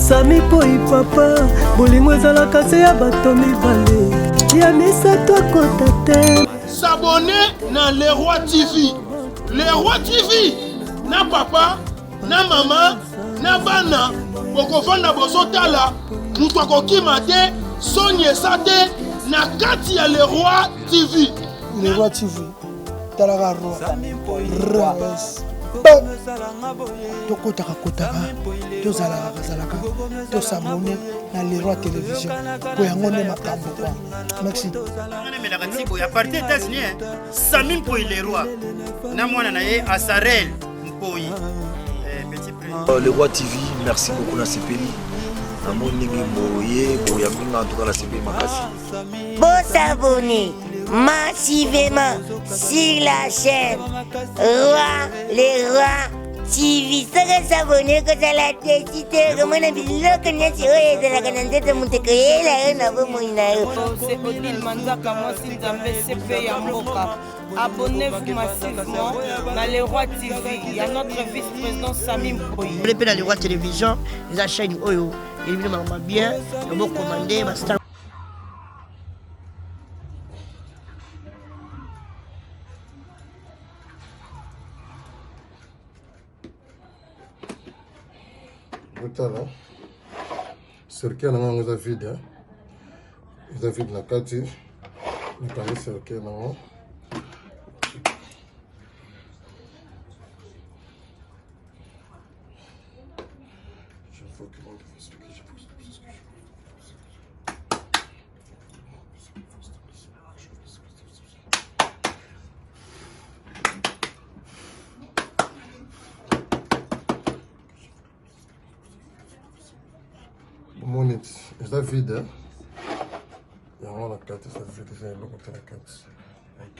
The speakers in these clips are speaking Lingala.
sami poi papa bolingo ezalaka se ya bato mibale ya misato akota te sabone na leroi tv leroi tv na papa na mama na bana bokofanda bozotala moto akokima te soni esa te na kati ya leroi tv leroi tv talaka tokotaka kotaka tozalaka kazalaka tosabone na leroi télévision po yango nde makambo kwa maxi emelaka ntibo ya parti états-unis eh. sami mpoi leroi na mwana na ye asarel mpoi eh, euh, le roi tv merci beaucoup nasepeli namoni ndenge boye boyambinga antuka nasepeli makasi bosabone massivement sur la chaîne Roi les Rois TV soki osabone kozala desi te okomona biloko nyonso oyo ezalaka na nzoto moto ekoyela yo na bomoi na yo odile manzaka mwasi nzambe sepe ya mboka abonnez-vous massivement na le roi tv ya notre vice-président sami mpoyi mpe na le roi télévision eza chaîne oyo elibino makambo bien obokomande basta botala cercueil na nga yango eza vide hein? eza vide na kati nakangi cercueil na yango eza vide yango na kati eza vide eza eloko te na kati ok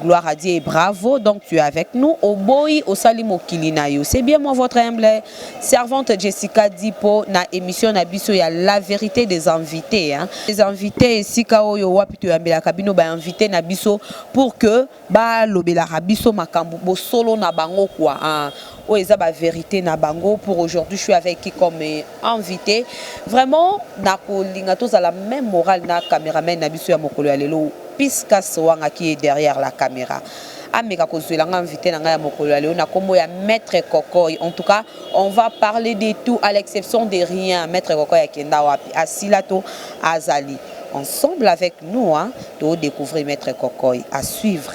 Gloire à Dieu et bravo. Donc tu es avec nous. Oboyi osali mokili na yo. C'est bien moi votre humble servante Jessica Dipo na émission na biso ya la vérité des invités hein. Les invités esika oyo wapi to yambela kabino ba invités na biso pour que ba lobela biso makambo bosolo na bango quoi. Hein. Oyo eza ba verite na bango pour aujourd'hui je suis avec comme invite vraiment na ko linga to zala meme morale na cameraman na biso ya mokolo ya lelo piscas wanga qui est derrière la camera ameka kozwela nga invité na ngai ya mokolo ya lelo na kombo ya maître kokoy en tout cas on va parler de tout à l'exception de rien maître kokoy akenda wapi asila to azali ensemble avec nous hein, to découvrir maître kokoy à suivre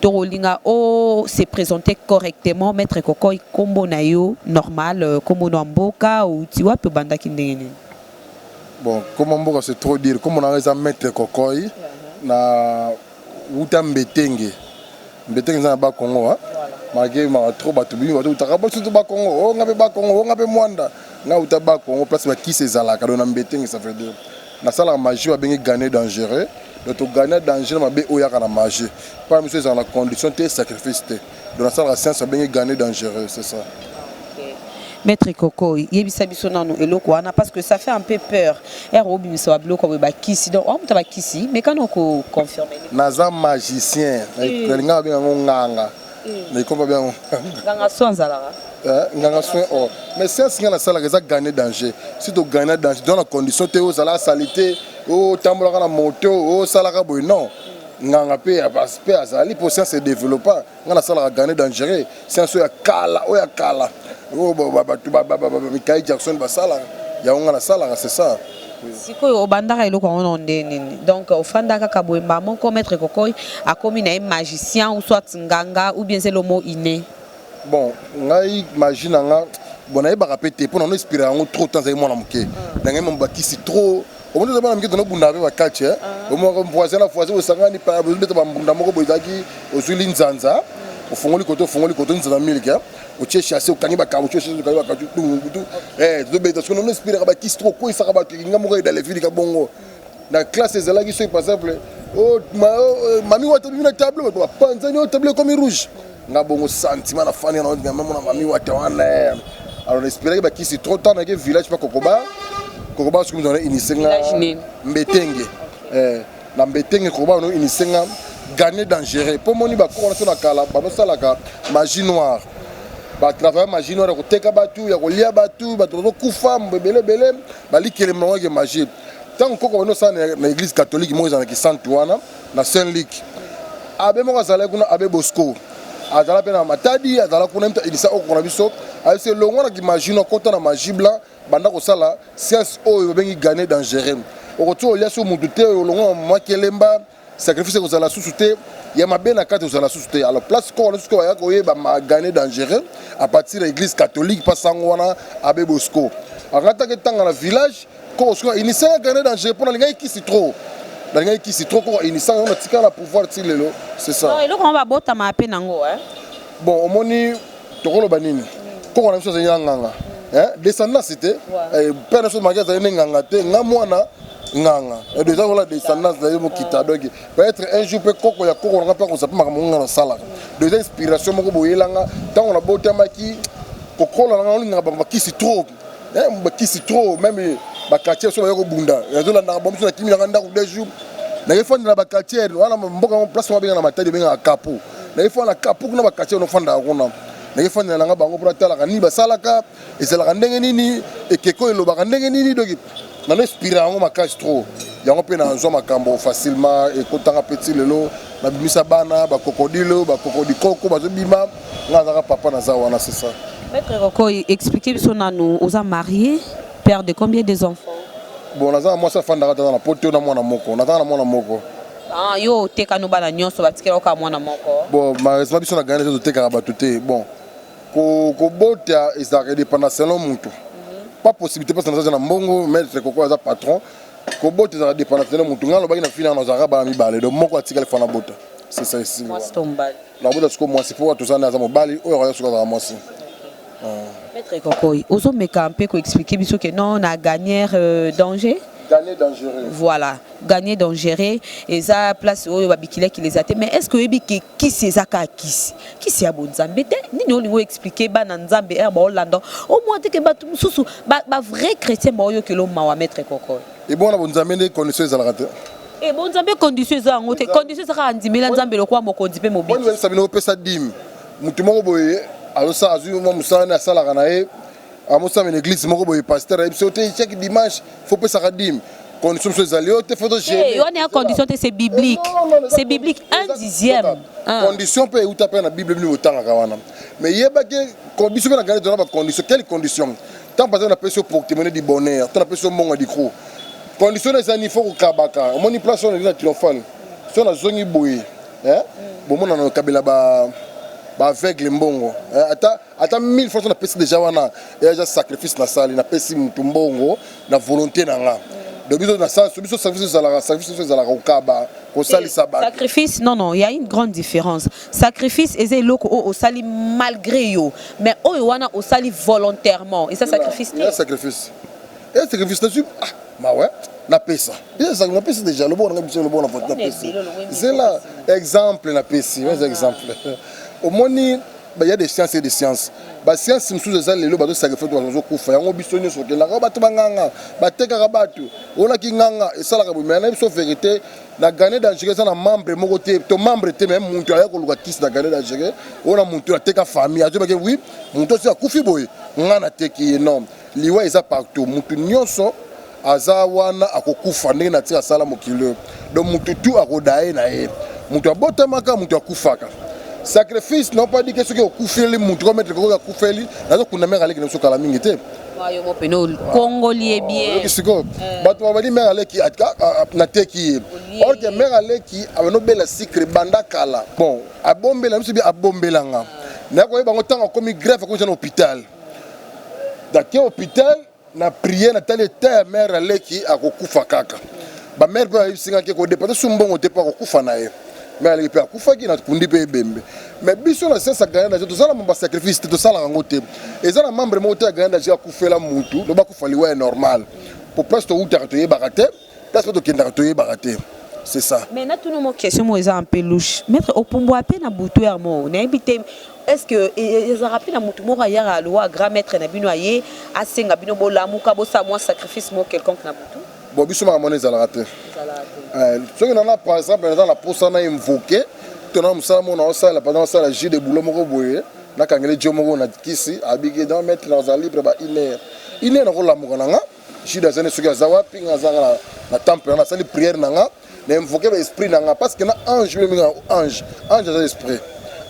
Toko linga o se presenter correctement, maitre kokoy kombo nayo normal, kombo no ya mboka, owuti wapi, obandaki ndenge nini? Bon kombo ya mboka c'est trop dire, kombo nanga eza maitre kokoy, na wuta mbetenge, mbetenge eza na bas congo hein, malgre mawa trop batu mingi bazo wutaka biso tout bas congo, oh nga pe bas congo, oh nga pe muanda, nga wuta bas congo place ba kisi ezalaka, donc na mbetenge ça veut dire. Nasalaka magie ba bengi gagne dangereux donc to gagna danger na mabe oyo yaka na magie pa miso ezala na condition te sacrifice te donc nasalaka science ba bengi gagne dangereux c'est ça Maître Koko, yebisa biso nanu eloko wana parce que ça fait un peu peur. Er obimisa ba biloko ba bakisi. Donc on mutaba kisi, mais kana ko confirmer. Naza magicien. Nalinga ba benga nganga. mais komba bien nganga soin azalaka eh, nganga soin or oh. mais science nga nasalaka eza gagner danger si to gagner danger dans la condition te ozala salite otambolaka na moto osalaka boye non nganga mpe mpe azali mpo science edéveloppa nga nasalaka gagner dangereux science oyo ya kala oyo ya kala oyo bato mikai jackson basalaka yango nga nasalaka c'est ça Sikoyo obandaka eloko yango na nde nini donc ofanda kaka boye mbala moko maître kokoi akomi na ye magicien ou soit nganga ou bien zelo mo ine bon ngai magie na nga bon nayebaka mpe te mpo na no espira yango trop temps azali mwana moke na ngai mabakisi trop omoni oza mwana moke tonobunda mpe bakatch omoko voisin na voisin osangani beta bambunda moko boye ezalaki ozwili nzanza ofongoli koto ofongoli koto nzanza milke otie chasse okangi bakamutu chasse okangi bakamutu tungutu eh tobeta soki nono espiraka bakisi to kokweyisaka bato elinga moko edala evilika bongo na classe ezalaki soki par exemple oh, oh, eh, mami wata bimi na tableau bato bapanzani oyo oh, tableau ekomi rouge nga bongo sentiment na fani na odinga mamona mami wata wana eh. alors naespiraki bakisi trop tard nake village pa kokoba kokoba soki mizana inise nga mbetenge eh. na mbetenge koba no initier nga gane dangereux mpo moni bakoko wana so na kala banosalaka magie noire batravaille magie noire ya koteka bato ya kolia bato bato bazokufa ebele ebele balikeli bango yeke magie ntango koko banosala na église catholique moko ezala na kisantu wana na saint luc abe moko azalaki kuna abe bosco azala mpe na matadi azala kuna mpe inisa okoko na biso ayebisi elongwa na kimagino akota na magie blanc banda kosala science oyo babengi gane dangereux okoki olia so mutu te olongo mwa kelemba sacrifice ekozala susu te ya mabe na kati ozala susu te alors place koko nasusu baya koyeba magane dangereux à partir ya église catholique mpa sango wana abe bosco akataki ntanga na village koko sikoyo inisaka gane dangereux mpo nalingaki kisi trop nalingaki kisi trop koko inisaka yango natikala na pouvoir ti lelo c'est ça eloko yango babotama mpe nango bon omoni tokoloba nini koko na biso azali na nganga eh, descendance te eh, père na biso maki azali nde nganga te nga mwana nganga eh, eza kola descendance na ye mokita donc peut-être un jour mpe koko ya koko nanga mpe akozala mpe makambo nga nasalaka donc eza inspiration moko boyelanga ntango nabotamaki kokola nanga olingaka bakisi trop Eh, mbakisi trop meme ba quartier so bayoko bunda. Nazo landa na bomso na kimi na ndako deux jours. Na yefanda na ba quartier wana mboka ngo place mabenga na matadi benga na kapo. Na yefanda na kapo kuna ba quartier no fanda kuna. Na yefanda na nga bango pona tala kani basalaka ezalaka ndenge nini ekeko elobaka ndenge nini doki. Na respira yango makasi trop. Yango pe na nzwa makambo facilement ekotanga petit lelo na bimisa bana ba crocodile ba crocodile koko bazo bima Nga azaka papa naza wana c'est ça. Maître Roko expliquer biso nanu oza marié père de combien des enfants? Bon naza mwasi afandaka tata na poto na mwana moko naza na mwana moko. Ah yo oteka no bana nyonso batikela oka mwana moko. Bon malheureusement biso na Ghana biso totekaka bato te bon ko kobota ezalaka edepanda selon moto mhm. pas possibilité parce que naza na mbongo maître koko aza patron kobota ezalaka depanda selon moto ngai alobaki na fina na ozalaka bana mibale donc moko atikali fana bota c'est ça esili Nakobota siko mwasi po toza na aza mobali oyo akoya siko azala mwasi. Maître Kokoy, ozo meka mpe ko expliquer biso que non na gagner euh, danger Gagner dangereux. Voilà, gagner dangereux eza place oyo ba bikila ki les athées mais est-ce que oyebi que kisi eza ka kisi kisi ya bonzambe te nini olingo expliquer bana nzambe er ba olanda au moins te que batu mususu ba, ba vrai chrétien ba oyo kelo mawa maître Kokoy. Ebongo na bonzambe nde condition ezalaka te. Eh bonzambe condition eza yango te. Condition eza kaka ndimela Nzambe lokola mokonzi pe mobiki. Bonzambe sabino opesa dime. Mutu moko boye alosa azui mwa musala ne asalaka na ye. Amosala na église moko boye pasteur ayebi so te chaque dimanche faut pesaka dime. Condition so ezali yo te faut to gérer. Eh wana ya condition te c'est biblique. C'est biblique un dixième. Ah. Condition pe euta pe na Bible bino otangaka wana. Mais yeba ke biso pe na gardez na ba conditions. Quelle condition? Tant pas na peso porte-monnaie du bonheur, tant na peso monga du coup. Condition na zani faut kukabaka. Omoni place on est na triomphal. So na zongi boye. Hein? Bomona na kabela ba ba aveugle mbongo. Hein? Ata ata 1000 fois na pesi déjà wana. Et déjà sacrifice na sali na pesi mutu mbongo na volonté na nga. Donc biso na sens biso service ezalaka service ezalaka kukaba kosalisa ba. Sacrifice non non, il y a une grande différence. Sacrifice eza eloko oyo osali malgre yo mais oyo wana osali volontairement eza sacrifice te. Sacrifice. Et sacrifice na suis ah mawa napesa eza napesi deja lobo na biso lobo na vote napesi zela exemple napesi eza exemple omoni il y a des sciences et des sciences ba sciences mosusu eza lelo bazo sacrifice bato bazokufa yango biso nyonso okendaka bato banganga batekaka bato olaki nganga esalaka bomea na biso verité Na Gane dangereux eza na membre moko te to membre te mais mutu aya koluka kisi na Gane dangereux ona mutu ateka famille azo bake oui mutu osi akufi boye nga na teki ye non liwa eza partout mutu nionso aza wana akokufa ndenge na tira sala mokili oyo donc mutu tu akodaye na ye mutu abotamaka mutu akufaka sacrifice na opadike soki okufeli mutu ko mettre koko akufeli nazo kunda mère aleki na biso kala mingi te Ah, yo mopene okongoli ye bien oyoki sikoyo eh. bato babandi mare aleki nateki ye orke mare aleki abanda obela sikre banda kala bon abombela biso bi abombelanga nakoyeba bango ntango akomi greffe akomisa na hôpital dake hôpital na priere natali eta ya mare aleki akokufa kaka bamare mpe bayebisingaki kodepase su mbongo te mpo akokufa na ye mare aleki mpe akufaki nakundi mpe ebembe mais biso na siasa grande age tozala mamba sacrifice te tosalaka yango te eza na membre moko te ya grande age akufela mutu loba akufa liwa ya normal po place towutaka toyebaka te place mpe tokendaka toyebaka te c'est ça mais natuna mo question mo eza un peu louche maître opumbwa mpe na butu ya mo nayebi te est ce que ezalaka mpe na motu moko ayaka alowa grand maître na bino aye asenga bino bolamuka bosala mwa sacrifice mo quelconque na butu Bon biso makambo wana ezalaka te. Eh, soki nana par exemple naza na posa na invoke to na mosala moko naosala par exemple asala jus de boulot moko boye nakangeli jo moko na kisi abiki donc maître naza libre ba une heure une heure nakolamuka na nga jude azani soki aza wapi nga azaka na temple wana asali prière na nga na invoquer ba esprit na nga parce que na ange bino minga ange ange aza esprit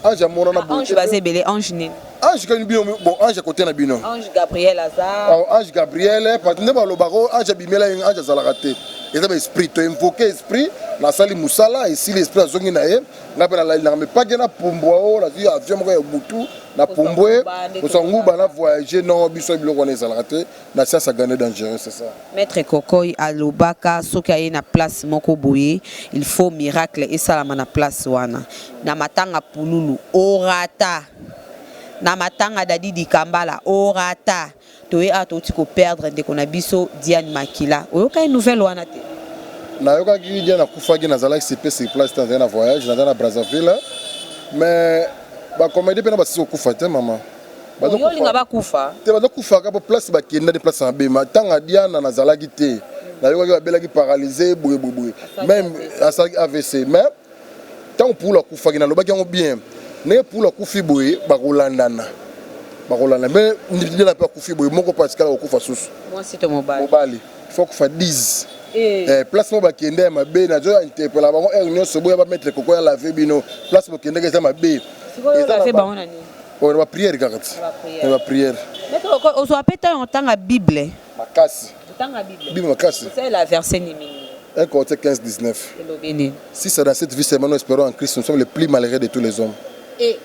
ange amona na ange baza ebele ange nini ange kani bino bon ange kote na bino ange gabriel aza oh, ange gabriel parce nde balobaka oyo ange abimela ye ange azalaka te eza ba esprit to invoquer esprit nasali mosala esili esprit azongi na ye ngai mpe nalali nanga mais pake na pumbwa oyo oh, nazwi avion moko ya butu na pumbwe kosanguba na voyage non biso biloko wana ezalaka te Na sasa Gane dangereux c'est ça. Maitre kokoy alobaka soki aye na place moko boye il faut miracle esalama na place wana na matanga pululu orata na matanga dadi dikambala orata toye awa touti ko perdre ndeko na biso diane makila oyokaki nouvelle wana te nayokaki diane akufaki nazalaki sipe sur place te nazalaki na voyage nazalaki na brazzaville mais bacomédie mpe na basisi kokufa te mama oyolinga bakufa te bazo kufa ka po place ba kenda ni place na bema tanga diana na zalaki te na yokaki ba belaki paralyse boye boye boye même asalaki avc mais tango poula kufa ki na lobaki yango bien ne poula kufi boye ba kolandana ba kolanda mais ni diana pe kufi boye moko pa tikala ko kufa susu moi c'est mobali mobali faut kufa 10 eh. eh, place moko bakende ya mabe nazo interpela bango heure nyonso boya bametre koko ya lave bino place bokendeke eza mabe eza oyo na ba prière kaka ti na ba prière ozwa pe temps otanga bible makasi otanga bible bible makasi c'est la verset nini 1 Corinthiens 15 19 si c'est dans cette vie seulement nous espérons en Christ nous sommes les plus malheureux de tous les hommes et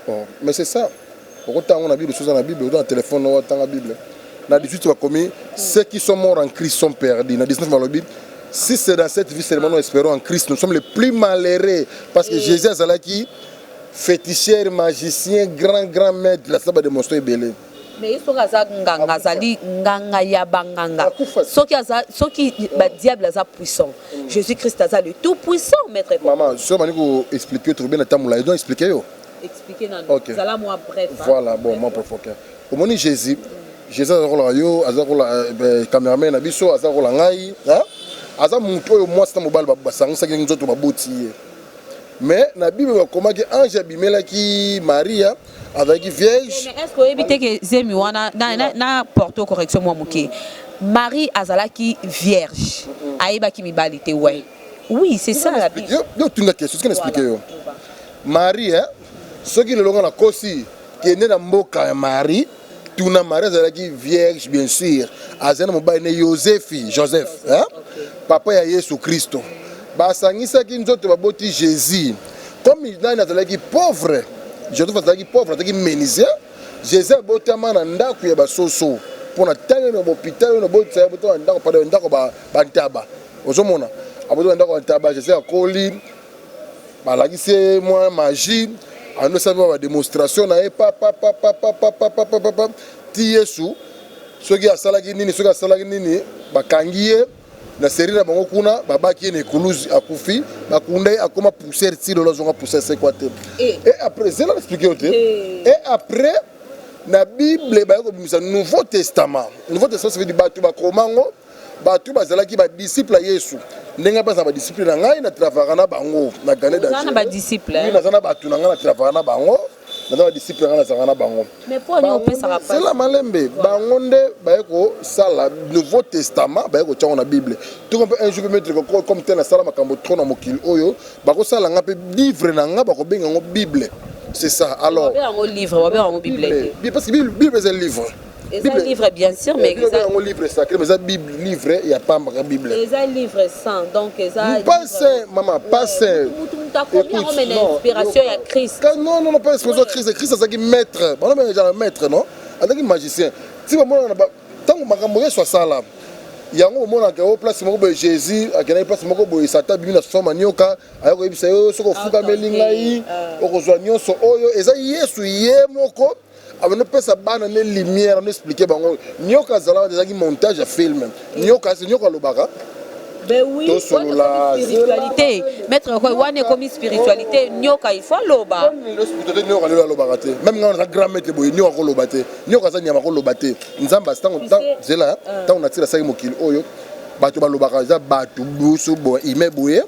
oh, mais c'est ça okotanga na bible soza na bible oza na telefone otanga bible na 18 bakomi ceux qui sont morts en christ sont perdus na 19 balobi si c'est dans cette vie seulement nous espérons en christ nous sommes les plus malheureux parce que jésus azalaki Feticheur, magicien, grand grand maître, la saba de monstro ebele. mais ye soki aza nganga azali nganga ya banganga soki aza soki badiable aza puissant mm. jésus christ aza le tout puissant maître mama soki obandi koexplike tokobe na ntango molai donc explike yo explike nazala mwa bref voilà bon mwa profoke omoni jésus mm. jésus aza kola yo aza kola euh, euh, cameraman na biso aza kola ngai aza moto oyo mwasi na mobali basangisaki nzoto baboti ye Mais na Bible bakomaki ange abimelaki Maria azalaki vierge. Est-ce que oyebi te que zemi wana na, na, na porte correction mwa moke Marie azalaki vierge ayebaki mibali te ouais. Oui, c'est ça la Bible. Yo tuna question, ce que n'explique yo. Marie hein, soki lelo nga na kosi kende na mboka ya Marie tuna marie azalaki vierge bien sûr azali na mobali ne yosefi joseph hein? papa ya yesu kristo basangisaki nzoto baboti jésus comme nani azalaki pauvre joseph azalaki pauvre azalaki menisien jésus abotama na ndako ya basoso mpo na ntango eno bopitalo eno botisa abotama na ndako pada ndako bantaba ozomona abotama na ndako ya ntaba jésus akoli balakisi ye mwa magie ando esali mwa bademonstration na ye papapapapapapapapa ti yesu soki asalaki nini soki asalaki nini bakangi ye na serie na bango kuna babaki ye na ekuluzi akufi bakunda ye akoma poussière ti lelo azonga poussière sekwa te e après zela na explike yo te e après na bible baye kobimisa nouveau testament nouveau testament ça veut dire bato bakoma yango Bato bazalaki ba disciples ya Yesu. Ndenge baza ba disciples na ngai na travaka na bango na Gane da. Zana ba disciples. Oui, naza na bato na ngai na travaka na bango. Naza ba disciples na ngai nazalaka na bango. Mais pour nous pesa ka C'est la malembe. Bango nde baye ko sala Nouveau Testament baye ko tyango na Bible. Tout comme un jour peut mettre ko comme tel asala makambo trop na mokili oyo, bako sala nga pe livre na nga bako benga ngo Bible. C'est ça. Alors. Ba benga ngo livre, ba benga ngo Bible. Bible parce que Bible c'est un livre. eza livre bien sûr mais eza yango livre sacré mais eza bible livre ya pamba ka bible eza livre saint donc eza pas saint maman pas saint akomi yango mais na inspiration ya christ non non non pas inspiration christ christ azalaki maître bana bana genre maître non azalaki magicien ti bamona na ntango makambo yesu asala yango omonaka yango place moko boye jésus akendaki place moko boye satan abimi na soma nioka aya koyebisa yo soki ofukameli ngai okozwa nyonso oyo eza yesu ye moko abandi pesa bana ne lumière no expliquer bango nyoka azalaka ezalaki montage ya film nyoka se nyoka alobaka Ben oui, tosolola spiritualité maître okoy wana ekomi spiritualité nyoka il faut aloba nyoka lelo alobaka te meme ngai naza grand maître boye nyoka koloba te nyoka aza nyama koloba te nzambe asi ntango zela ntango na tilasaki mokili oyo bato balobaka eza bato busu boye ime boye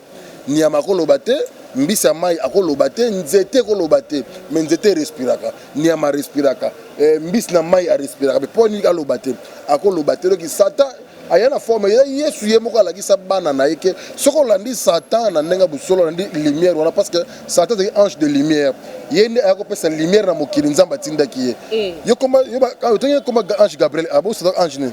nyama koloba te mbisi ya mai akoloba te nzete ekoloba te me nzete erespiraka nyama arespiraka eh, mbisi na mai arespiraka mpe mpo nini aloba te akoloba te doki satan aya na forme ya yesu ye moko alakisa bana na ye ke soki olandi satan na ndenge ya bosolo olandi lumière wana parce que satan azali ange de lumière ye nde aya kopesa lumière na mokili nzambe atindaki ye eh. yo koma yo ba, ah, otangi koma ange gabriel abosata ah, ange nini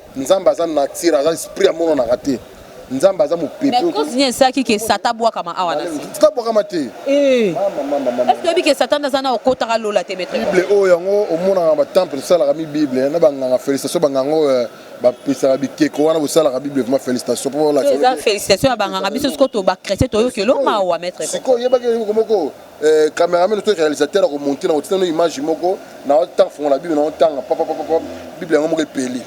Nzambe aza nature, aza esprit amonanaka te. Nzambe aza mopepe. Mais cause nini esalaki ke Satan abwakama awa na se? Satan abwakama te. Eh. Mama mama mama. Est-ce que oyebi ke Satan aza na okotaka lola te maître? Bible oyo yango omonaka ba temple esalaka mi Bible na ba nganga felicitation ba nganga oyo eh, bapesaka bikeko wana bosalaka bible vraiment félicitation mpo eza félicitation ya banganga biso sikoyo to bachrétien toyoki elo mawa maître sikoyo oyebaki eloko moko Eh, cameraman to réalisateur ako monter na kotina no image moko na otanga fongola bible na otanga papa papa papa bible yango moko epeli.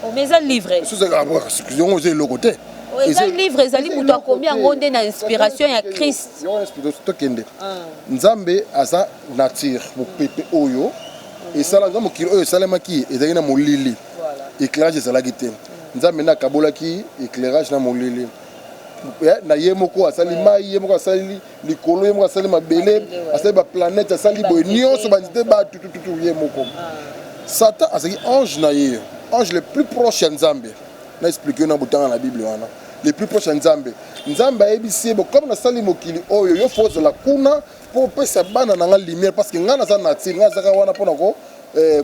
Oh, mais eza livre. Sous eza ah, yango eza eloko te. Oh, eza livre ezali moto akomi yango nde na inspiration ya christ tokende ah. nzambe aza nature mopepe oyo mhm. esala nga mokili oyo esalemaki ezalaki na molili éclairage ezalaki te mhm. nzambe nde akabolaki éclairage na molili eh, na ye moko asali mai ye moko asali likolo ye moko asali mabele asali baplanete asali boye nyonso banzete bato tututu ye moko ah. satan azalaki ange na ye ange le plus proche ya nzambe na explike yo na botanga na bible wana le plus proche ya nzambe nzambe ayebisi ye bokomi nasali mokili oyo yo fo ozala kuna mpo opesa bana na ngai lumière parce que ngai naza nature ngai azaka wana mpona ko eh,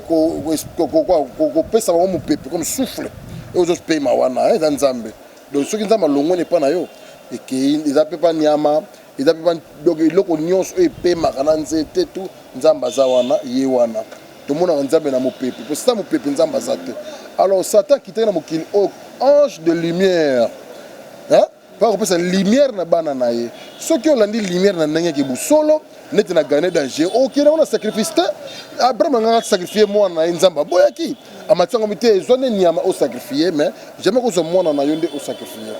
kopesa bango mopepe comme souffle oyo ozopema wana eh, eza nzambe Donc soki Nzambe alongwani epai na yo ekei eza mpe mpa nyama eza mpe donc eloko nyonso oyo epemaka na nzete tu Nzambe aza wana ye wana tomonaka Nzambe na mopepe mpo sita mopepe Nzambe aza te alors Satan akitaki na mokili oyo ange de lumière mpo akopesa lumière na bana na ye soki olandi lumière na ndenge ya kibusolo neti na gane danger okende yango na sacrifice te abraham angaka asacrifie mwana na ye nzambe aboyaki amati yango mite ezwa nde nyama osacrifie mais jamais kozwa mwana na yo nde osacrifie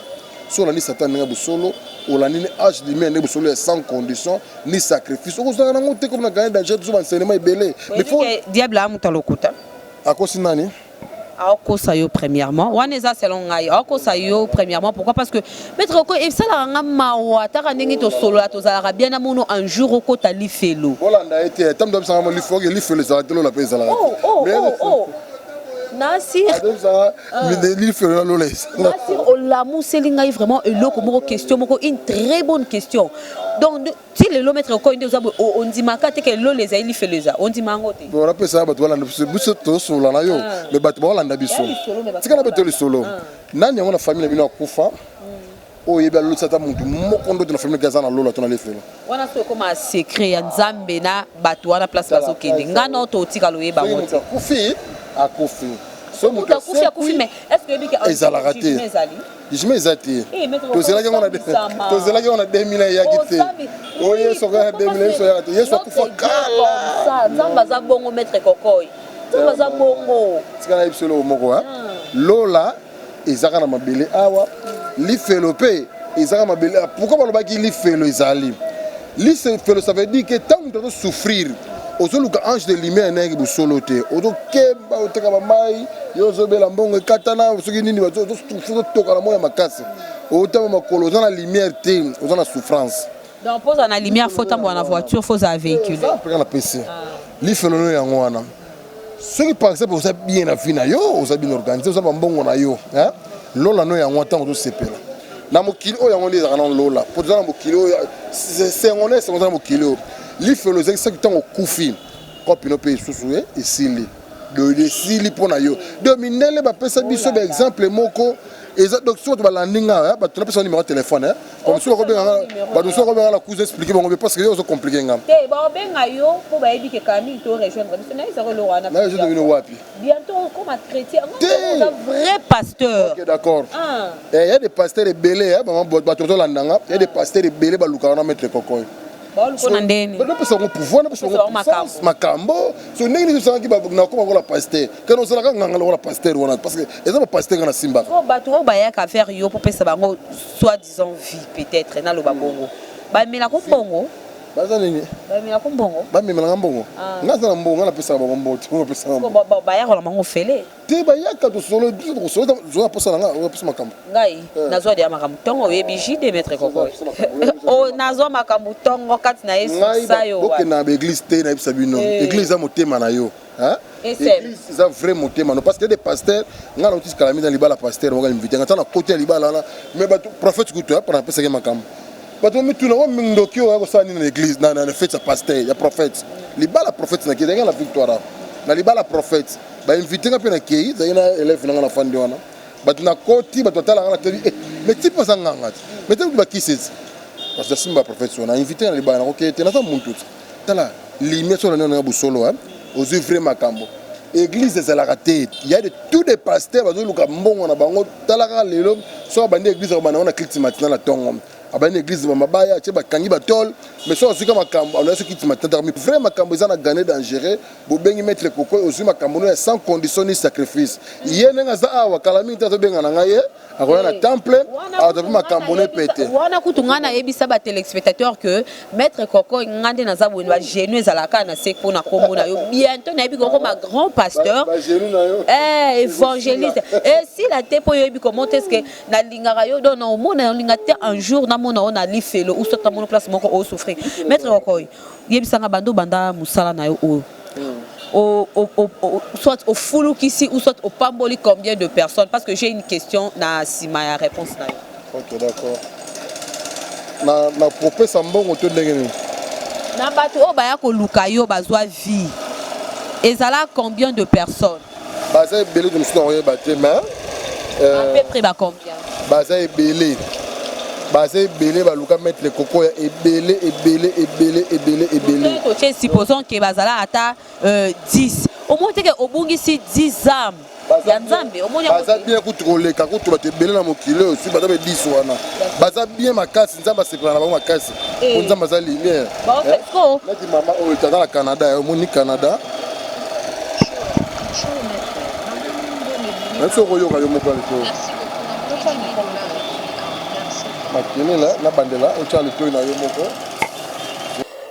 so olandi satan ndenge bosolo olandi ni age limere nde bosolo ya sans condition ni sacrifice okozwaka nango te komi na gane danger tozo bansenema ebele diable amuta lokuta akosi nani aokosa yo premièrement wana eza selon ngai aokosa yo premièrement pourquoi parce que maître oko esalaka nga mawa ataka ndenge tosolola tozalaka bien namono un jour okota lifelo olanda ye te ntango abisaka lifoke lifelo ezalaka te lola mpe ezalaka oh, oh, oh, nasirlifelo na lola olamuseli ngai vraiment eloko moko question moko une très bonne question donc ti lelo maître okoyi nde oza boye ondimaka te ke lola ezali lifelo eza ondima yango te po napesa bato balanda biso biso tosolola na yo ah. me bato baolanda biso tikala mpe to lisolo ah. nani yango na famille na bino akufa hmm. oyo yebi alotisa ata motu moko ndoto na famille aza na lola to na lifelo wana so ekoma secret ya nzambe na bato wana place bazokende ngai nao totika loyeba yango te akufi akufi so motu akufi akufi me est ce que oyebi ke ezalaka te jugement eza te eh, tozelaki yango na 2000 eyaki te oyo yesu akoya na 2000 yesu ayaka te yesu akufa kala nzambe aza bongo maître kokoi nzambe aza bongo tika nayebi biso eloko moko ah. lola ezaka na mabele awa lifelo mpe ezaka mabele ah, pourkui balobaki lifelo ezali Lise felo ça veut dire que tant que tu souffrir ozoluka ange de lumière nayeke bosolo te ozokemba oteka bamai yo ozobela mbongo ekatana soki nini ozotoka na moi ya makasi otama makolo oza na lumière te oza na souffrance donc mpo ozala na lumière fo otambola na voiture fo ozala véhicule mpeka na pesi lifelolo yango wana soki par exemple oza bien na vie na yo oza bien organise oza bambongo na yo lola no yango ntango ozosepela na mokili oyo yango nde ezalaka na lola mpo toza na mokili oyo sengo na esengo oza na mokili oyo lifelo ezalaki soki ntango okufi kopi no mpe lisusu eh, esili doyilo esili mpo na yo do mindele bapesa biso baexemple moko eza donc soki bato balandi ngai eh, bato napesa nimero ya telefone eh. Comme si on benga ba nous on benga la cousin expliquer bango mais parce que yo zo compliquer ngam. Te ba benga yo po ba yebi ke Camille to rejoindre biso na ezako lo wana. Na je devine wapi. Bientôt comme un chrétien, on un vrai pasteur. OK d'accord. Ah. Eh il y a des pasteurs belé hein, maman ba to la ndanga, il y a des ah. pasteurs belé ba lukana na mettre kokoy. baolukona ndeni bapesa yango pouvoir napesa yango puissance makambo so ndenge nini osalaki nakoma lokola pasteur kana osalaka nganga lokola pasteur wana parce que eza bapaster nga nasimbaka bato oyo bayaka vers yo popesa bango soit disant vie peut-être naloba bongo bamela ko mbongo baza nini bamela ko mbongo bamemelaka mbongo ah. nga aza na mbongo nga napesaka bango mbongo te opesaka mbongo bayaka na bango fele te bayaka tosolo biso tokosolo zo na posa na nga oza posa makambo ngai eh. nazwa deya makambo ntongo oyebi jide maître kokoy oh, nazwa makambo ntongo kati na yesu sayo bokenda na baeglise te nayebisa bino eh. eglise eza motema na yo Hein? Église eza vrai motema no parce que des pasteurs nga na otis kalami na libala pasteur wanga invité nga tana côté ya libala na mais ba prophète kutu hein pona pesa ke makam bato mituna wa mindoki oyo ko sani na église na na fête ya pasteur ya prophète libala prophète na kidanga na victoire na libala prophète ba invité nga pe na kei zai na élève na nga na fandi wana bato na koti bato tala nga na tebi eh mais type za nga ngati mais tebi ba kisses parce que simba prophète wana invité na libala na ko kei te na za muntu Tala limia soki olandi na busolo hein ozui vrai makambo eglise ezalaka te ya de tout de pasteur bazoluka mbongo na bango tala kaka lelo soki abandi eglise akobanda yango na clite matina na tongo abandi na eglise mabaya atie bakangi batole mais soki azwika makambo aloya soki clite matina tala vrai makambo eza na gane dangereux bobengi maître kokoy ozwi makambo no ya sans condition ni sacrifice ye ndenge aza awa kala mingi te azobengana ngai ye akoya na temple azwa mpe makambo ne pete wana kutu ngai nayebisa ba téléspectateur que maître koko ngai nde naza boye bagenu ezalaka na se mpo na nkombo na yo bientôt nayebi kokoma grand pasteur eh, évangéliste esila eh, te mpo yoyebi comment est ce que nalingaka yo don omona olinga te un jour namona yo na lifelo ou soit namona place moko osouffrir maître koko yebisanga bando banda mosala na yo oyo soit ofulukisi ou soit opamboli combien de personnes parce que j'ai une question na sima ya réponse na yo ok d'accord na na kopesa mbongo to ndenge nini na bato oyo baya koluka yo bazwa vie ezala combien de personnes baza ebele te mosusu na koyeba te mais euh, peu près ba combien baza ebele baza ebele baluka maître koko ya ebele ebele ebele ebele ebele totie supposons ke bazala ata 10 euh, omoni teke obungisi 10 ame ya nzambe omoni baza bien kutu koleka kutu bato ebele na mokili oyo si baza be 10 wana baza bien makasi nzambe asepela na bango makasi eh. po nzambe aza lumière eh? neti mama oyo oh, tata na canada eh, omoni canada nasi okoyoka yo moko aliko makelela na bandela otya litoi na yo moko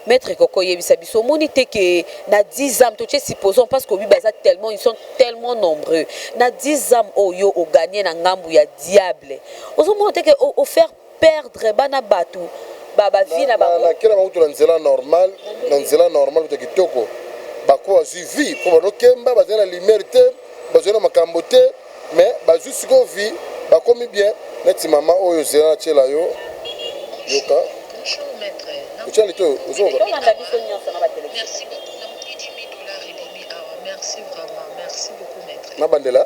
maître koko yebisa biso omoni te ke na 10 âmes totie supposons parce que obi baza tellement ils sont tellement nombreux na 10 âmes oyo oganie na ngambu ya diable ozomona te ke ofaire perdre bana batu ba ba vie na bango. Na kelama kutu na nzela normal na nzela normal kutu ya kitoko bako bazui vie po bano kemba bazali na lumière te bazali na makambo te mais bazui sikoyo vie bakomi bien neti maman oyo zela na tiela yo yoka otia litoyo ozonga Bolanda biso nionso na ba telephone. na bandela.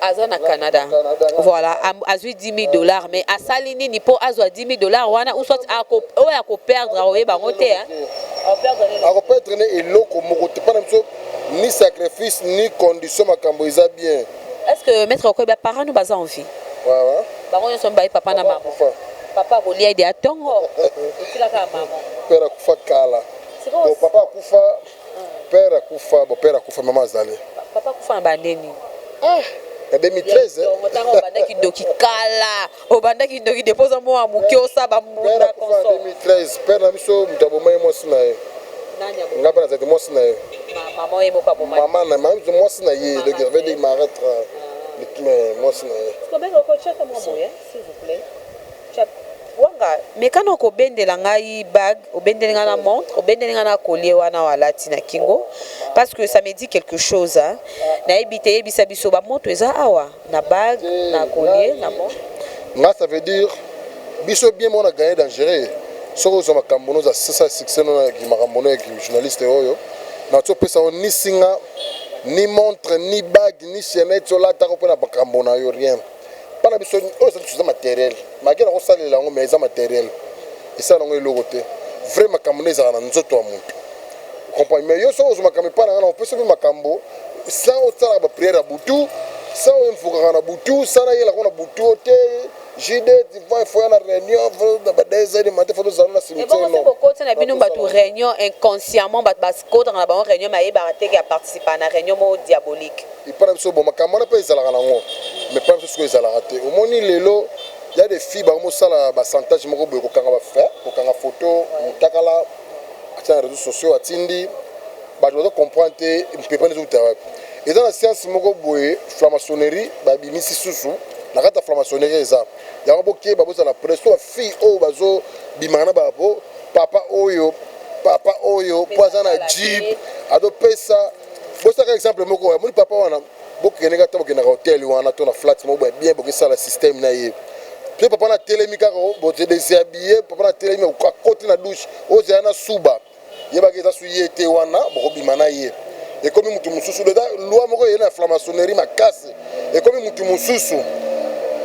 aza na Canada voilà azui 10000 dollars mais asali nini po azwa 10000 dollars wana ou soit oyo ako perdre akoyeba yango te hein ako perdre ne eloko moko te pana biso ni sacrifice ni condition makambo eza bien est ce que maître okoyeba ba parents no baza en vie wawa bango nyonso mibale papa na mama papa akolia ede atongo otilaka mama père akufa kala papa akufa Père akufa, bon père akufa maman azali. Papa akufa na ba nini? Ah, na 2013. Donc otanga obandaki doki kala. Obandaki doki depuis oza mwa muke osaba mbunda konso. 2013, père na biso mutu aboma ye mwasi na ye. Nani aboma? Nga bana zati mwasi na ye. Maman ye moko aboma. Maman na maman mwasi na ye, donc il avait dit Marthe. Ah. Mwasi na ye. Sikoyo beko ko chaka mwa boye. S'il vous plait chat wanga meka nao kobendela ngai bague obendeli ngai na montre obendeli ngai na collier wana oyo alati na kingo parce que ça me dit quelque chose hein nayebi te yebisa biso ba moto eza awa na bague na collier na montre nga ça veut dire biso bien mona gagner dangereux soki ozwa makambo noza sasa succès no na makambo no ya journaliste oyo na tso pesa yo ni singa ni montre ni bague ni chaînette olataka mpo na makambo na yo rien Bana biso oyo ezali biso eza materiel malgré nakosalela yango mais eza materiel esala nango eloko te vrai makambo nde ezalaka na nzoto ya moto comprendre mais yo soki ozwa makambo epai na ngai na opesi mpe makambo sans osalaka bapriere ya butu sans oinvokaka na butu sans nayelaka na butu o te JD divan il faut ya na réunion na badesani mate faut tozala na simitiebokoti na bino bato réunion inconsciemment bato bakotaka na bango réunion mayebaka te ke aparticipa na réunion moko diabolique Epa na biso bon makambo wana pe ezalaka na ngo mais epa na biso sikoyo ezalaka te omoni lelo ya de fille bango mosala ba santage moko boye kokanga ba fe kokanga foto mutakala atia na reseau sociaux atindi bato bazo comprendre te mpepani ezouta wapi eza na science moko boye flamasonerie babimisi susu na kati ya flamasonerie eza yango bokeba bozala preso ba fille oyo bazo bimaka na bapo papa oyo papa oyo po aza na jeep adopesa bosaka exemple moko oyo amoni papa wana bokendeka ata bokendaka hotel wana to na flat moko boye bien bokesala système na ye mpe papa na telemi kaka oh, bodeseabiye papa na telemi akoti na douche ozala oh, na suba yebaka eza su ye te wana bokobima na ye ekomi motu mosusu eza loi moko eye na flamasonerie makasi ekomi motu mosusu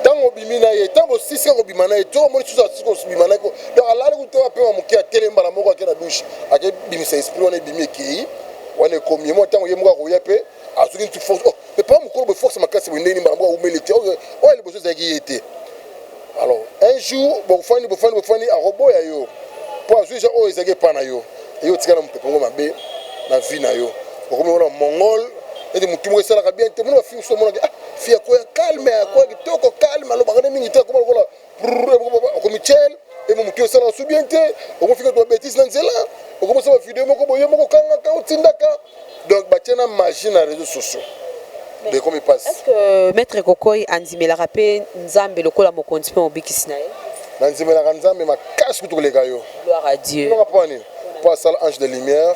ntango obimi na ye ntango osisi kobima na ye to omoni susu asisi kobima na ye donc alali kutu apema moke atelemi mbala moko ake na douche akebimisa esprit wana ebimi ekei Wana ekomi ye moko tango ye moko akoya pe azuki neti force oh mais papa mukolo boye force makasi boye ndenge nini mbala moko awumeli te oyo oyo liboso ezalaki ye te alors un jour bofandi bofandi bofandi akoboya yo po azwi ja oyo ezalaki epa na yo eye otika na mopepe ngo mabe na vie na yo okomi wana mongol neti motu moko esalaka bien te mona bafilme so omonaki ah fi akoya calme akoya kitoko calme alobaka nde mingi te akoma lokola okomi chel emo motu esala osu bien te okofika twa betise na nzela okomisa bavideo moko boye moko okangaka otindaka donc batye na magie na réseau sociaux ekomi mpasi estce que maître kokoi andimelaka mpe nzambe lokola mokonzi mpe mobikisi na ye nandimelaka nzambe makasi kutu koleka yo gloire à dieu mpo asala ange de lumière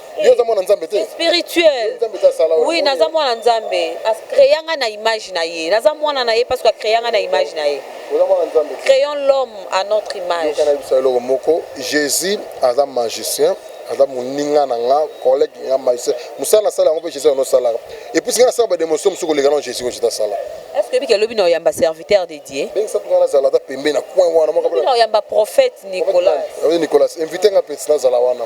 yo oza mwana nzambe te spirituel oui naza mwana nzambe acrea ngai na image na ye naza mwana na ye parce que acrea ngai na image na ye créons l'homme à notre image nayebisa eloko moko jésus aza magicien aza moninga na nga collègue nga magicien mosala nasala yango mpe jésus yango osalaka epuis nga nasala bademonstration mosusu koleka na jésus oyo jésus asala est ce que ebiki elobi na oyamba serviteur de dieu bengisa mpenga nazala ata pembe na coin wana mokabina oyamba prophète nicolas nicolas invité nga peti nazala wana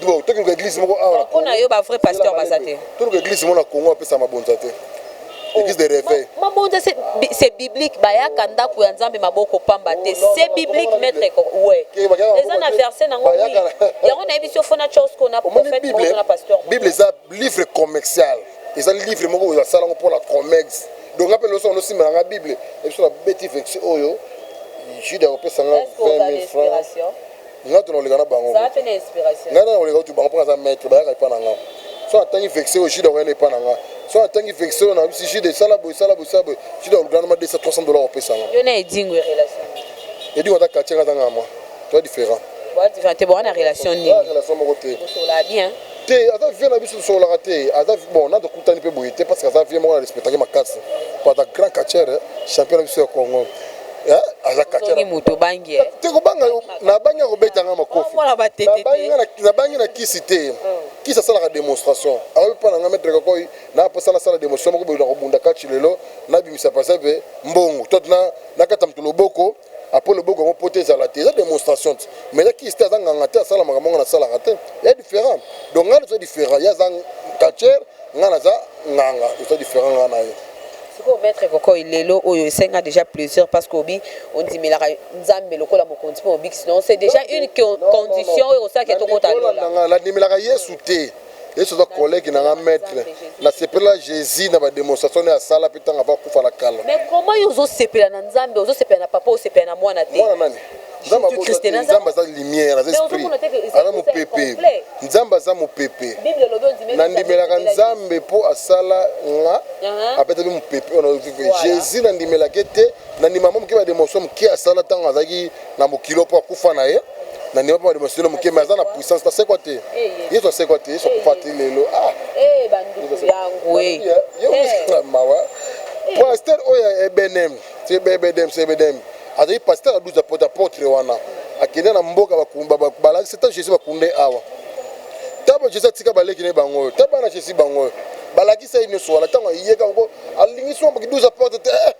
donc toki luka eglise moko awa mpo na yo ba vrai pasteur baza te toluka eglise moko na congo apesa mabonza te oh, église de réveil mabonza c'est biblique bayaka ndako ya nzambe maboko pamba te oh, c'est biblique maître ouais eza na verset nango oui yango nayebi si ofona chose kona prophète moko na pasteur bible eza livre commercial eza livre moko oyo asala yango mpo na commerce donc nga mpe loso yango nosimba na nga bible ebiso na beti vexi oyo jude akopesa nga 20 000 francs Nga to nakoleka na bango ko. Nga nde nakoleka kutu bango po naza maitre bayaka epa na nga. Soki atangi vexe oyo Jude akoyanda epa na nga. Soki atangi vexe oyo nalobi si Jude sala boye sala boye sala boye Jude akolukela nga mwa 200 300 dollars akopesa nga. Yo na Edingwe relation nini? Edingwe aza quartier nga aza ngama toza different. Boza different te boza na relation nini? Boza na relation moko te. Bosololaka bien? Te aza vieux na biso tosololaka te aza bon na tokutani pe boye te parce que aza vieux moko na respectaki makasi po aza grand catcheur champion na biso ya Congo azakataki moto obangi eh? te kobanga nabangi akobeta nga makofi nabangi na kisi te oh. kisi asalaka démonstration akoki mpo na nga maître kakoi naposa nasala démonstration moko boye nakobunda kati lelo nabimisa pasape mbongo to nakata moto loboko après loboko yango poto ezala te eza demonstration te mais eza kisi te aza nganga te asala makambo yango nasalaka te ya différent donc ngai naza différent ye aza catcher ngai naza nganga eza différent ngai na ye sikoyo maître kokoy lelo oyo esenga déjà plusieurs parce que obi ondimelaka nzambe lokola mokonzi mpo obikisi non c'est déjà une condition oyo osalaki tokotananga nandimelaka yesu te Yesu aza collègue na nga maître na sepela Jésus na ba démonstration ya sala pe tanga va kufa la kala. Mais comment yo zo sepela na Nzambe, ozo sepela na papa, osepela na mwana te. Mwana nani? Nzambe abota te, Nzambe aza lumière, aza esprit. Aza mopepe. Nzambe aza mopepe. Na ndimelaka Nzambe po asala nga uh-huh. abeta pe mopepe wana Jésus na ndimelaka te, na ndimaka moke ba démonstration moke asala tango azalaki na mokilo mpo akufa na ye na ndima mpo bademonstele moke me aza na puissance asekwa te yesu asekwa te yesu akufa te lelo ah. mawa pasteur oyo ya ebenem ebedem ebedem azali pasteur aduza pota potre wana akende na mboka balakisi ta jésus bakunde awa ntango jésus atika baleki ne bango oyo ta bana jésus bango oyo balakisa ye nyonso wana ntango ayeka yango alingi soki 12 porte te eh,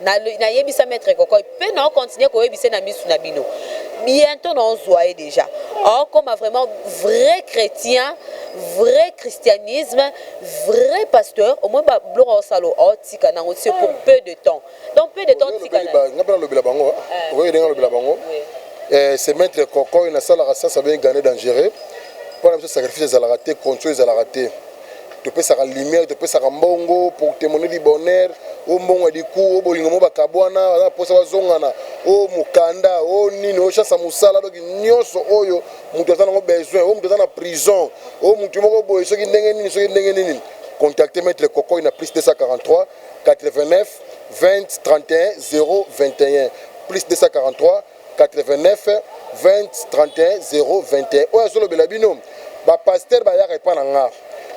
Na na yebisa maitre kokoy pe na continuer ko yebise na misu na bino bientôt na ozua ye deja okoma vraiment vrai chretien vrai christianisme vrai pasteur au moins ba bloka osalo otika nango c'est pour peu de temps donc peu de temps tika na nga pe na lobela bango eh. okoki denga lobela bango eh, c'est maitre kokoy na salaka sasa bien gane dangereux pona biso sacrifice ezalaka te control ezalaka te topesaka lumière topesaka mbongo pour témoigner du bonheur o mbongo ya liku o bolingo mo bakabwana baza na mposa bazongana o mokanda o nini o chance ya mosala donc nyonso oyo moto aza nango besoin o moto aza na prison o moto moko boye soki ndenge nini soki ndenge nini contacte maître kokoi na plus 243 89 20 31 021 plus 243 8920310210 oyo azo lobela bino ba pasteur ba yaka epa na nga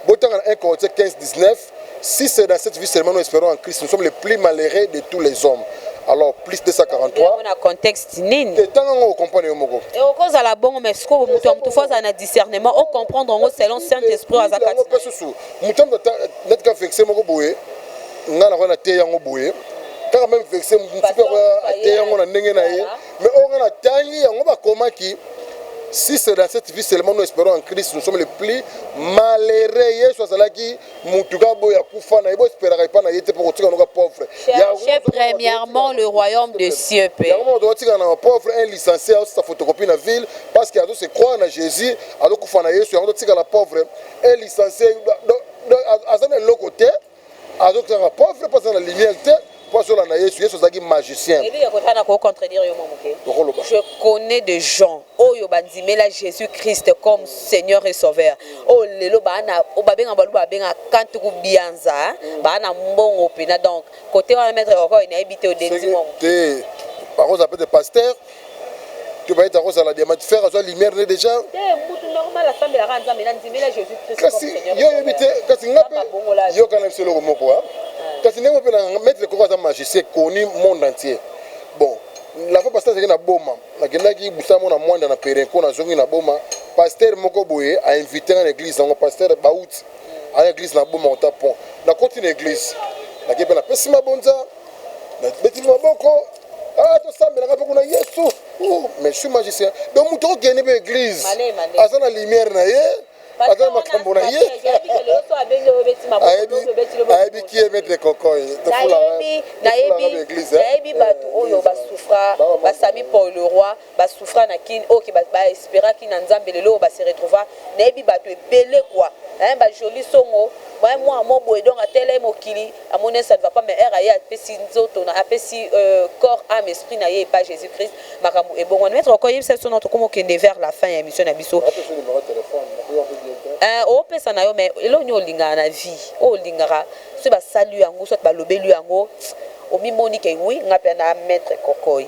bo tanga na 1 corinthien 1519 si c'est dans cette vie seulement nous esperons en christ nous sommes le plus malheureux de tous les hommes alors plus 243 na contexte nini te tanga ngo comprendre yo moko e oko zala bongo mais siko mutu ya mutu foza na discernement o comprendre ngo selon saint esprit aza kati ngo pesusu mutu ya mutu net ka vexe moko boye nga nakoya na te yango boye kaka meme vexe motu mpe akoya ate yango na ndenge na ye mais oyo nga natangi yango bakomaki si c'est dans cette vie seulement nous espérons en christ nous sommes les plus malheureux yesu azalaki motu kaka boye akufa na ye boesperaka epai na ye te mpo kotika noka pauvre Cherchez premièrement le royaume de cieux pe yango moto akotika na pauvre un licencié aosisa photocopie na ville parce que azo se croire na jésus azokufa na yesu yango totikala pauvre un licencié aza na eloko te azokanga pauvre mpo aza na lumière te mpo azola na yesu yesu azalaki magicien je connais des gens oyo bandimela jésus christ comme seigneur et sauveur oyo oh, lelo babenga baluba babenga kantuku bianza mm. baa na mbongo mpena donc kote wana maître koko nayebi te odenzi mongo te bakozala pete pasteur to bayeta kozala diamant fer azwa lumière ne déjà mutu normal asambelaka nzambe na ndimela jésus christ kasi yo oyebi te kasi nga mpe yokana biso eloko moko ah. kasi ndenge mpe na maître koko aza magicien connu monde entier bon la fois pasteur azalaki na boma nakendaki busa mona mwanda na perenco nazongi na boma pasteur moko boye ainvite nga na église yango pasteur bauti aya église na boma ota pont nakoti na église nake mpe napesi mabonza nabeti maboko ah, tosambelaka mpe kuna yesu mais suis magicien donc moto okende mpe église aza na lumière na ye aza na makambo na ye ayebi ki emetre kokoy nayebi bato oyo basufra basami paul leroy ba souffra na kin ok ba espera ki na nzambe lelo oyo ba se retrouva na yebi batu ebele quoi hein ba jolie songo hein mua mo boye donc atela ye mokili amoni hein ça ne va pas mais heure aye apesi nzoto na apesi corps ame esprit na ye epa jesus christ makambu ebongwani maitre oko yebisa biso non tokomi okende vers la fin ya emission na biso hein o pesa na yo mais eloko nini olingaka na vie oyo olingaka soki ba sali yo yango soit ba lobeli yo yango omi moni ke oui nga pe na maitre kokoy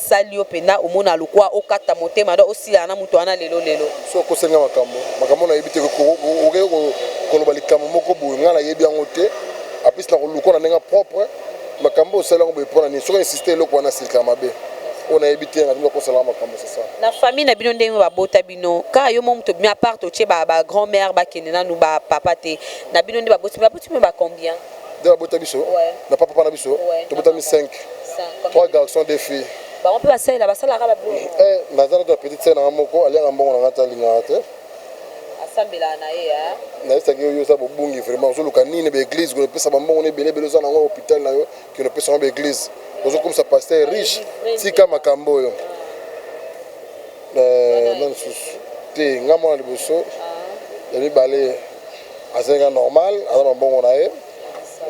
sali yo pena omona lokua okata motema donc osilana na mutu wana lelo lelo. Soki okosi nga makambo makambo na yebi te okeyi koloba likambo moko boye nga na yebi yango te aplis na kolukua na ndenge ya propre makambo oyo osali yango boye pona nini soki o insiste eloko wana silikaka mabe oyo na yebi te nalingi okosala nga makambo c'est ça. Na famille na bino ndenge ba bota bino kaka yo moko mutu obimi apart otie ba grand mère ba kende nanu ba papa te na bino nde ba boti bino ba boti bino ba combien? nde babota biso na papa na biso tobotami 5 3 garçons deux filles bango mpe basalela basalaka babongo eh, naza nato ya petite sere nanga moko aliaka mbongo nanga te alingaka te asambelaka na ye nayesaki yo yo oza bobungi vraiment ozoluka nini baeglise kona epesa bambongo na ebele ebele oza nango hôpital na yo kino opesa yango baeglise ozokomisa paster riche tika makambo oyo eh, na lisusu te nga mwana liboso ah. ya mibale azali nga normal aza na mbongo na ye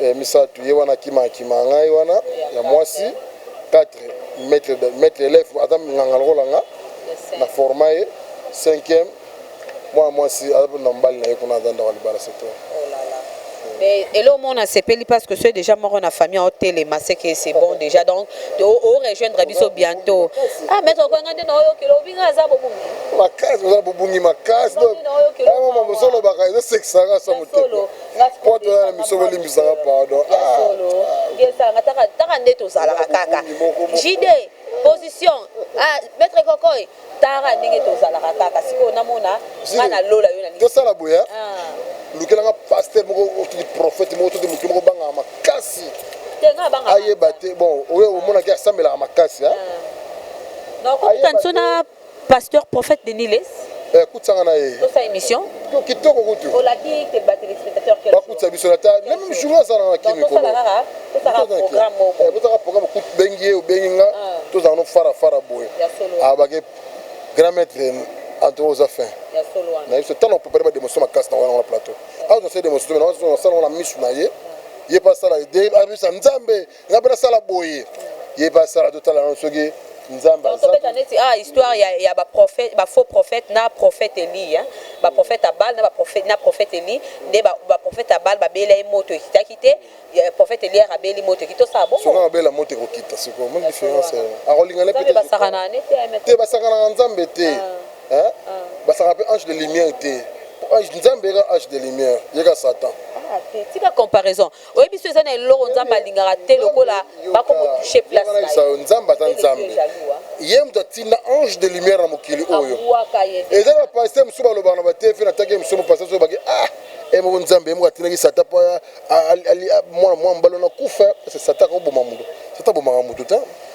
eh, misatu ye wana akima akima ngai wana ya mwasi 4 maître maître élève aza nganga lokola nga na forma ye 5e mwana mwasi aza na mobali na ye kuna aza ndako libala c'est tout mais eloko moko nasepeli parce que soki déjà moko na famille otelema ce que c'est bon déjà donc orejoindre biso bientôt ah maître okoyanga nde na oyo okelo obinga aza bobomi makasi oza bobungi makasi osolobaka ezosekisaka sa motema po toza na miso bolimbisaka pardon taka nde tozalaka kaka jide position ah, maître kokoy tara ndenge tozalaka kaka sikoyo namona nga na lola yo natosala boye ah. lukelanga paster moko otudi prophète moko todi motu moko bangaka makasi ayeba te bon oyo omonaki asambelaka makasi ah. Pasteur prophète Denis les. Eh, kutisa nga na ye. Tosa emission. Kitoko kutu. Olaki te ba téléspectateurs quel jour? Bakutisa biso na ta. Même journal aza na kimi ko. Tosala kaka, tosala programme moko. Eh, tosala programme kutu bengi ye, bengi nga. Ah. Tosala no fara fara boye. Ya solo. Ah, ba ke grand maître Antoine oza fin. Ya solo wana. Na biso tano préparer ba démonstration makasi na wana na plateau. Ah, tosala démonstration na wana, tosala na misu na ye. Ye pa sala idée, abisa Nzambe. nga mpe nasala boye ye mpe asala totala nano soki nzambe azobeta neti ah histoire ya, ya baprofete bafaux prophète na prophète eli hein? baprofete ya bale na baprofete na prophète eli nde baprofete ya bale babela ye moto ekitaki te prophète eliere abeli moto ekiti tosala bongo abela moto ekokita sikoyo moni différence akolingana mpe basakanaka ne te basakanaka nzambe te ah. Ah. basaka mpe ange de lumière te ange nzambe eka ange de lumière yeka satan ah, tika comparaison Oyebi soki eza na eloko Nzambe alingaka te lokola bako ko toucher place na ye. Yebisa yo Nzambe aza Nzambe. Ye moto atinda ange de lumière na mokili oyo. Eza ba pasteur mosusu balobaka na ba TV na tangi mosusu ba pasteur mosusu bake ah ye moko Nzambe ye moko atindaki Satan po mwana mwana mobali wana akufa parce que Satan akoboma moto. Satan abomaka moto te.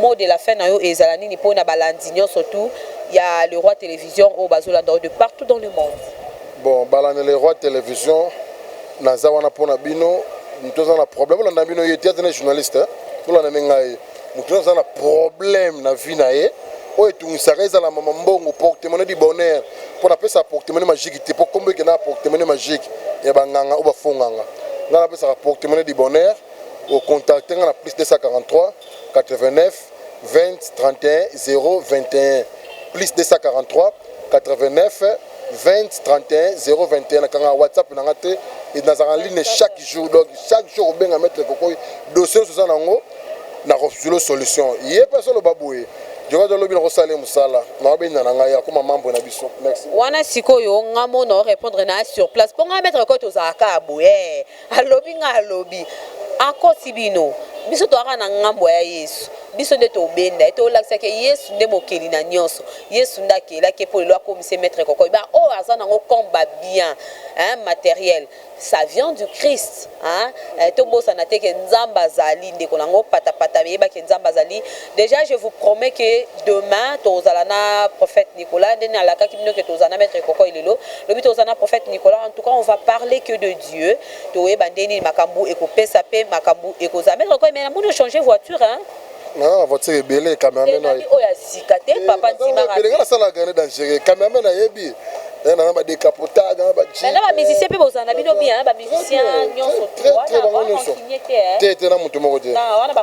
Mot de la fin na yo ezala nini po na balandi nionso tout ya le roi television oyo bazo landa yo de partout dans le monde? Bon balandi le roi television naza wana po na bino mutu aza na problème bolanda bino ye te aza na journaliste bolanda nde ngai mutu aza na problème na vie na ye oyo etungisaka ezala mama mbongo portemone du bonheur mpo napesaka portemone magique te mpo nkombo ekendaka portemone magique ya banganga oyo bafonganga ngai napesaka portemone du bonheur O contacter nga na plus 243 89 20 31 021 plus 243 89 20 31 021 nakangaka WhatsApp na nga te et nazalaka na ligne chaque jour donc chaque jour okobenga maitre kokoy dossier ozo oza na yango nako zulo solution ye pe azo loba boye Djokate lobi nako sala ye musala nao benda na nga ye akoma membre na biso merci. Wana sikoyo nga mona o repondre na sur place po nga na maitre kokoy tozalaka kaka boye eh. Alobi nga alobi akosi bino biso toza kaka na ngambo ya yesu biso nde tobenda ye tolakisa ke yesu nde mokeli na nionso yesu nde akela ke po lelo akomi se maitre kokoy ba oyo aza nango comme ba bien hein materiel sa vient du christ hein eh, tobosana te ke nzambe azali ndeko nango patapata yeba ke nzambe azali Dejà je vous promets que demain tokozala na prophète Nicolas nde nalakaki bino que tokozala na maitre Kokoy lelo lobi tokozala na prophète Nicolas en tout cas on va parler que de Dieu tokoyeba ndenge nini makambu ekopesa pe makambu ekozala maitre Kokoy mais namoni o changer voiture hein naza na voiture ebele cameraman oyo oh, ya sika te eh, papa ndimaka ebele nga nasala grande dangereux cameraman ayebi eh, naza ba décapotable na ba jeep na ba musicien pe bozana bino bien ba musicien nyonso te wana ba rankinie te te te na mutu moko te na wana ba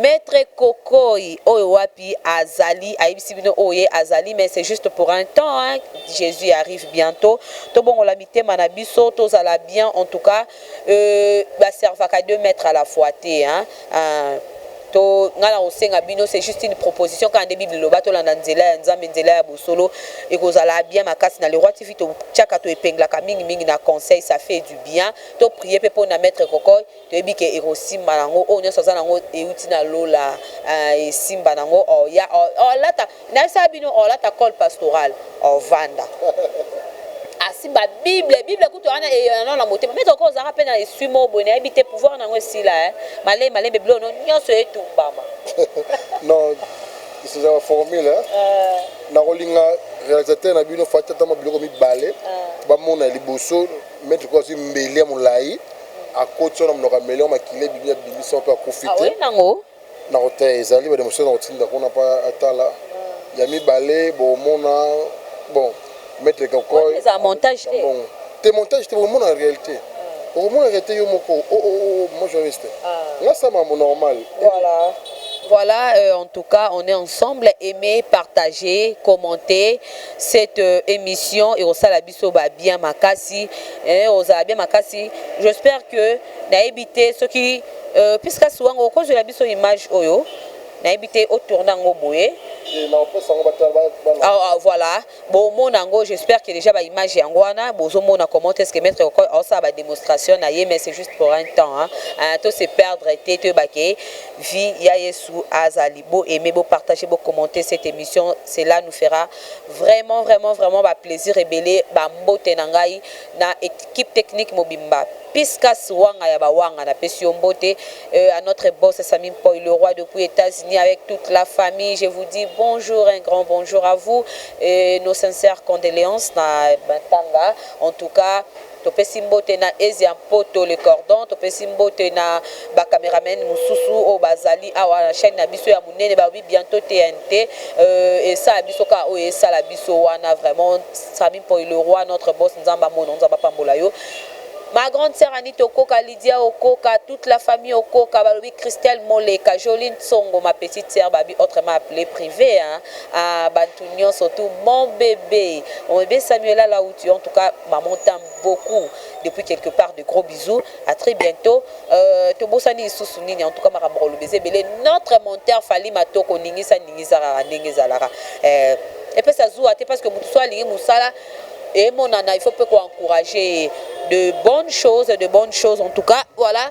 Maitre kokoy oyo wapi azali ayebisi bino oyo ye azali mais c'est juste pour un temps hein Jesus arrive bientot tobongola mitema na biso tozala bien en tout cas euh, ba servaka deux mètres à la fois te hein euh, to ngai nakosenga bino c'est juste une proposition kaka nde bible eloba tolanda nzela ya nzambe nzela ya bosolo ekozala bien makasi na leroy tv totiaka toepenglaka mingi mingi na conseil ça fait du bien to prie mpe mpo na maître cocoy Toyebi ke ekosimba na ngo oyo nionso aza na ngo ewuti na lola eeh esimba na ngo oh ya oh oh lata nayebisa bino oh lata col pastoral oh vanda asimba bible bible kutu wana eeh na na motema maitre ko ozalaka pe na esui moko boye nayebi te pouvoir na ngo esila eeh malembe malembe biloko no nionso etumbama non esi eza ba formule eeh nako linga realisateur na bino fatshi ata mwa biloko mibale ba mona ya liboso maitre ko azui mbeli ya molayi Akoti wana munoko ya melion makila ebimi abimisi yango pe akufi te. Aye nango. Nako te ezali ba demonstration nako tinda kuna pe atala ya mibale bomona bon maitre koko. Wana eza montage te. Ambongo te montage te bokomona realite okomona realite yo moko oh oh oh maman journaliste nga sa makambo normal eh. Voilà, euh, en tout cas, on est ensemble. Aimez, partagez, commentez cette euh, émission et au biso ba bien makasi eh ozala bien makasi j'espère que nayebi te soki euh, pisca siwango okozwela biso image oyo nayebi te o tourne yango boye ah, ah, voilà bomona yango j'espère que déjà baimage yango wana bozomona comment est ce que maître okoi aosala badémonstration na ye mais c'est juste pour un temps hein. Hein, to se perdre te toyeba ke vie ya yesu azali bo aime bopartage bocommente cette émission cela nous fera Vraiment vraiment vraiment ba plaisir ebele ba mbote na ngai na equipe technique mobimba piscas wanga ya ba wanga na pesi yo mbote euh, à notre boss Sami Mpoy le roi depuis Etats-Unis avec toute la famille je vous dis bonjour un grand bonjour à vous et nos sincères condoléances na Batanga en tout cas Topesi mbote na Asia Mpoto le Cordon, topesi mbote na ba cameramen mususu oyo bazali awa na chaine na biso ya munene balobi bientot TNT euh esala biso kaka oyo esala biso wana vraiment Samy Mpoy le roi notre boss Nzambe amona yo Nzambe apambola yo Ma grande sœur Anita Okoka, Lydia Okoka, toute la famille Okoka, balobi Christelle Moleka, Jolie Nsongo, ma petite sœur babi autrement appelée privée hein. Ah bantu nionso tu mon bebe mon bebe Samuela la où tu en tout cas maman t'aime beaucoup depuis quelque part de gros bisous à très bientôt euh, tobosani lisusu nini en tout cas makambo koloba eza ebele notre monteur Fally Matoko ningisa ningisa kaka ndenge ezalaka euh, epesa zuwa te parce que moto so alingi mosala emonana il faut mpe koencourage ye de bonnes choses de bonnes choses en tout cas voilà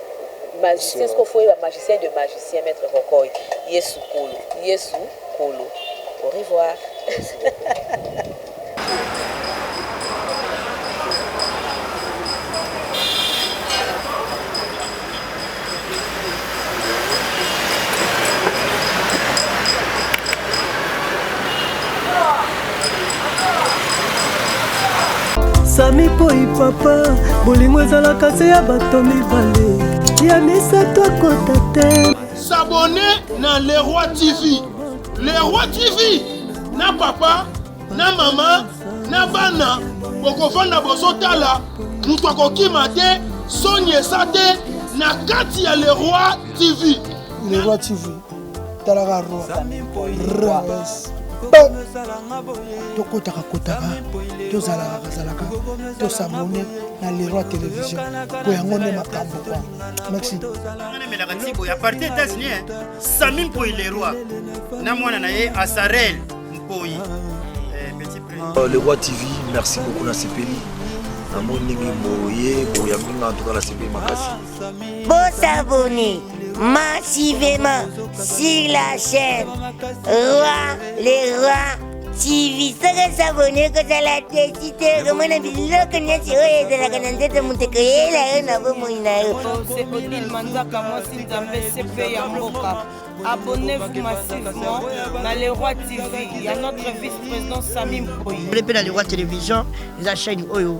Magicien soki ofoye ba magicien de magicien maitre rokoy yesu kolo yesu kolo au revoir. sami poi papa bolingo ezalaka se ya bato mibale ya misato akota te sabone na leroi tv leroi tv na papa na mama na bana bokofanda bozotala moto akokima te soni esa te na kati ya leroi tv leroi tv talaka tokotaka kotaka tozalaka kazalaka tosabone na leroi télévision po yango nde makambo kwa maxi emelaka ntibo ya parti états-unis eh. sami mpoi leroi na mwana na ye asarel mpoi eh, euh, le roi tv merci beaucoup nasepeli namoni ndenge boye boyambinga antuka nasepeli makasi bosabone massivement sur la chaîne Roi les Rois TV soki osabone kozala desi te okomona biloko nyonso oyo ezalaka na nzoto moto ekoyela yo na bomoi na yo odile manzaka mwasi nzambe sepe ya mboka abonnez-vous massivement na le roi tv ya notre vice-président sami mpoyi mpe na le roi télévision eza chaîne oyo